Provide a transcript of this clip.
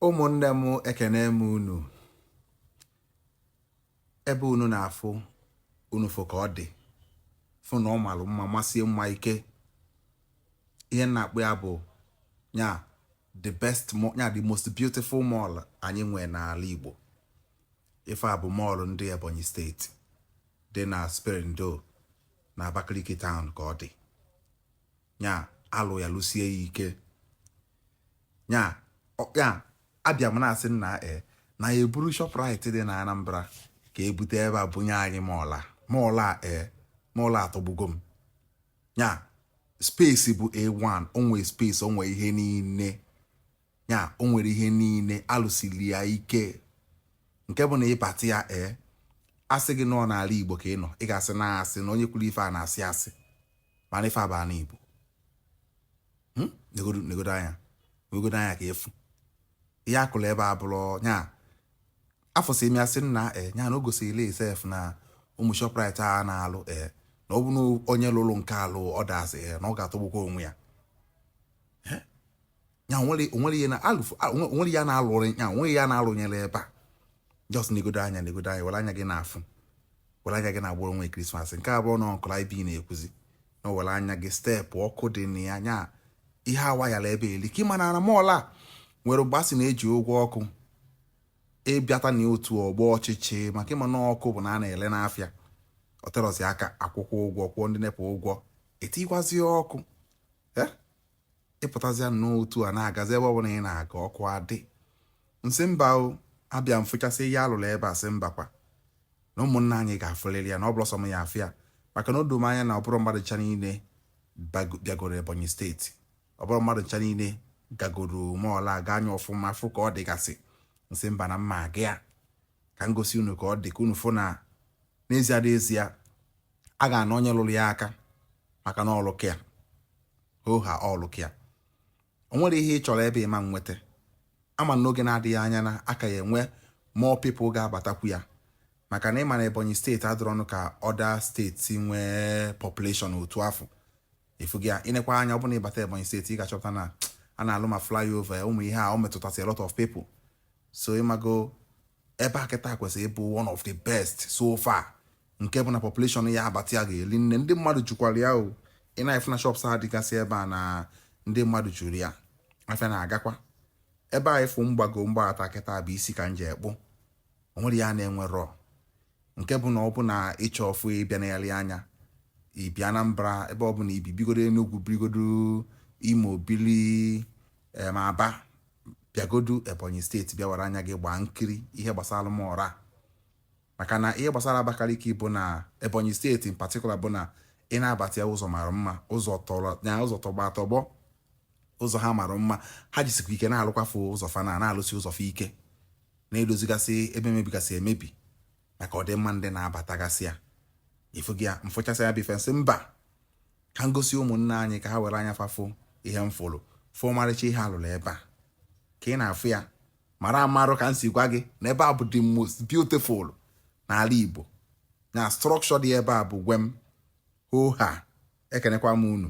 ụmụnne m ekenee m unu ebe unu na-afụ unu fụ ka ọ dị fụ na ọ malụ mma masie mma ike ihe m na-akpọ ya bụ nya the best nya the most beautiful mall anyị nwee n'ala Igbo ife a bụ mall ndị Ebonyi steeti dị na Spera-in-Deo na Abakaliki town ka ọ dị nya a lụọ ya lụsie ya ike nya ya abịa m na-asị nna e na ya e buru Shoprite dị na Anambra ka e bute ebe a bunye anyị mall a mall a e mall a atọgbugo m nya space bụ A1 o nwe space o nwe ihe niile ya o nwere ihe niile a lụsiri ya ike nke bụ na ị bata ya ee a sị gị na ọ n'ala Igbo ka ị nọ ị ga-asị na asị na onye kwuru ife a na-asị asị mana ife a bụ na Igbo hmm? negodo anya negodo anya ka ị fụ ihe a kụrụ ebe a bụrụ nya afụsịa m asị nna e nya na o gosiri sef na ụmụ Shoprite a na-alụ e na ọ bụ na onye lụrụ nke a lụọ others e na ọ ga-atọgbukwa onwe ya ya o nwerọ o nwerọ ihe na alụfụ o nwerọ ihe a na-alụrọ nya o nwerọ ihe a na-alụnyerọ ebe a just negodo anya negodo anya were anya gị na-afụ were anya gị na-agbara onwe Krismas nke abụọ na ọnkụla ibi na-ekwuzi na were anya gị steady ọkụ dị na ya nya ihe a wayala ebe a elika ị ma na mall a nwere mgbe a sị na e ji ụgwọ ọkụ ị bịata na otu ọ gbaa ọchịchị maka ị ma na ọkụ bụ na a na-ele n'afịa o terọzi aka a kwụkwọọ ụgwọ kwụọ ndị NEPA ụgwọ e tikwazie ọkụ eh? ị pụtazịa n'otu a na-agazi ebe ọbụla ị na-aga ọkụ adị m sị mba o abịa m fụchasịa ihe a lụrụ ebe a sị mba kwa na ụmụnna anyị ga-afụlịrị ya na ọ bụrọ sọ m ya-afụ ya maka na o doo m anya na ọ bụrọ mmadụ ncha niile bịagoro Ebonyi steeti ọ bụrọ mmadụ ncha niile gagoro mall a gaa nya ọfụma fụ ka ọ dịgasị m sị mba na m ya-aga ya ka m gosi unu ka ọ dị ka unu fụ na n'ezie n'ezie a ga-ana onye lụrụ ya aka maka na ọ lụka ya hoohaa ọ lụka ya o nwerọ ihe ị chọrọ ebe a ị ma-enweta ama m n'oge na-adịghị anya na a ka ya-enwe more people ga-abatakwu ya maka na ị ma na Ebonyi steeti adịrọnụ ka other steeti nwee population otu afụ ị fụgo ya ị nekwaa anya ọ bụ na ị bata Ebonyi steeti ị ga-achọpụta na a na-alụ ma flyover ụmụ ihe a o metụtasị a lot of people so ị mago ebe a kịta kwesịrị ịbụ one of the best so far nke bụ na population ya-abata ya ga-eli nne ndị mmadụ jukwara ya o ị na-afụ na shops a dịgasị ebe a na ndị mmadụ juru ya afịa na-agakwa ebe a ị fụ m gbago m gbabata kịta bụ isi ka m je akpụ o nwerọ ihe ọ na-enwerọ nke bụ na ọ bụ na ị chọọ ịfụ ịbịa nneyali anya i bi Anambra ebe ọbụna i bi bigodo Enugu birigodo Imo bili eh, ma Aba bịagodu ebonyi steeti bịa were anya gị gbaa nkiri ihe gbasara m ọra maka na ihe gbasara abakaliki bụ na ebonyi steeti in particular bụ na ị na-abata ya ụzọ mara mma ụzọ tọrọ ya ụzọ tọgbọ atọgbọ ụzọ ha mara mma ha jisikwa ike na-alụkwafe ụzọ fa na na-alụsi ụzọ fa ike na-edozigasị ebe mebigasị emebi maka ọdịmma ndị na-abatagasị ya ị fụgo ya m fụchasịa ya bụ ife m sị mba ka m gosi ụmụnne anyị ka ha were anya fa fụ ihe m fụrụ fụ ọmarịcha ihe a lụrụ ebe a ka ị na-afụ ya mara amarụ ka m si gwa gị na ebe a bụ the most beautiful n'ala Igbo na structure dị ebe a bụ gwem hoha ekenekwa m unu